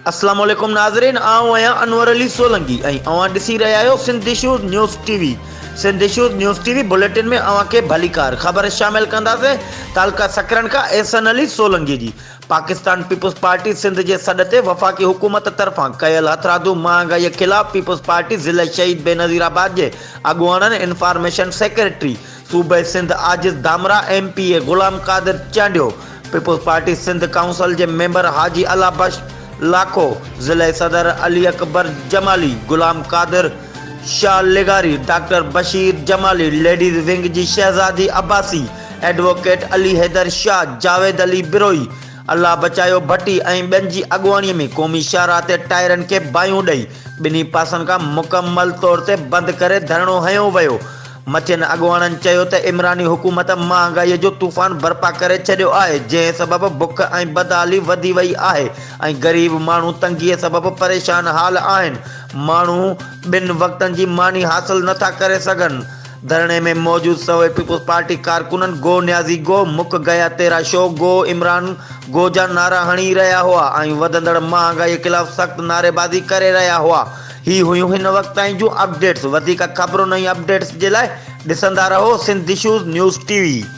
السلام عليڪم ناظرين آئون آهيان انور علي سولنگي ۽ اوهان ڏسي رهيا آهيو Sindh issues news T V Sindh issues news T V bulletin ۾ اوهان کي ڀليڪار خبر شامل ڪنداسين تعلقه سڪرنڊ کان احسن علي سولنگي جي پاڪستان پيپلز پارٽي سنڌ جي سڏ تي وفاقي حڪومت طرفان ڪيل هٿرادو مهانگائي خلاف پيپلز پارٽي ضلعي شهيد بينظير آباد جي اڳواڻن انفارميشن سيڪريٽري صوبي Sindh Ajiz Dhamrah M P A Ghulam Qadir Chandio peoples party Sindh council جي ميمبر حاجي الله بخش لاکو ضلعي صدر علي اڪبر جمالي غلام قادر شاهه لغاري doctor Bashir Jamali ladies wing جي شهزادي عباسي ايڊووڪيٽ علي حيدر شاهه، جاويد علي بروهي، الله بچايو ڀٽي ۽ ٻين جي اڳواڻي ۾ قومي شاهراهه تي ٽائرن کي باهيون ڏئي ٻنهي پاسن کان مڪمل طور تي بند ڪري ڌرڻو هنيو ويو. مٿين اڳواڻن چيو ته عمراني حڪومت مهانگائي جو طوفان برپا ڪري ڇڏيو آهي جنهن سبب بک ۽ بدحالي وڌي وئي آهي ۽ غريب ماڻهو تنگي سبب پريشان حال آهن ماڻهو ٻن وقتن جي ماني حاصل نٿا ڪري سگهن ڌرڻي ۾ موجود سوين پيپلز پارٽي ڪارڪنن گو نيازي گو، مک گيا تيرا شو، گو عمران گو جا نعرا هڻي رهيا هئا ۽ وڌندڙ مهانگائي خلاف سخت نعريبازي ڪري رهيا هئا. هي هيون هن وقت تائين جون اپڊيٽس. وڌيڪ خبرن ۽ اپڊيٽس جي لاء ڏسندا رهو Sindh issues news T V.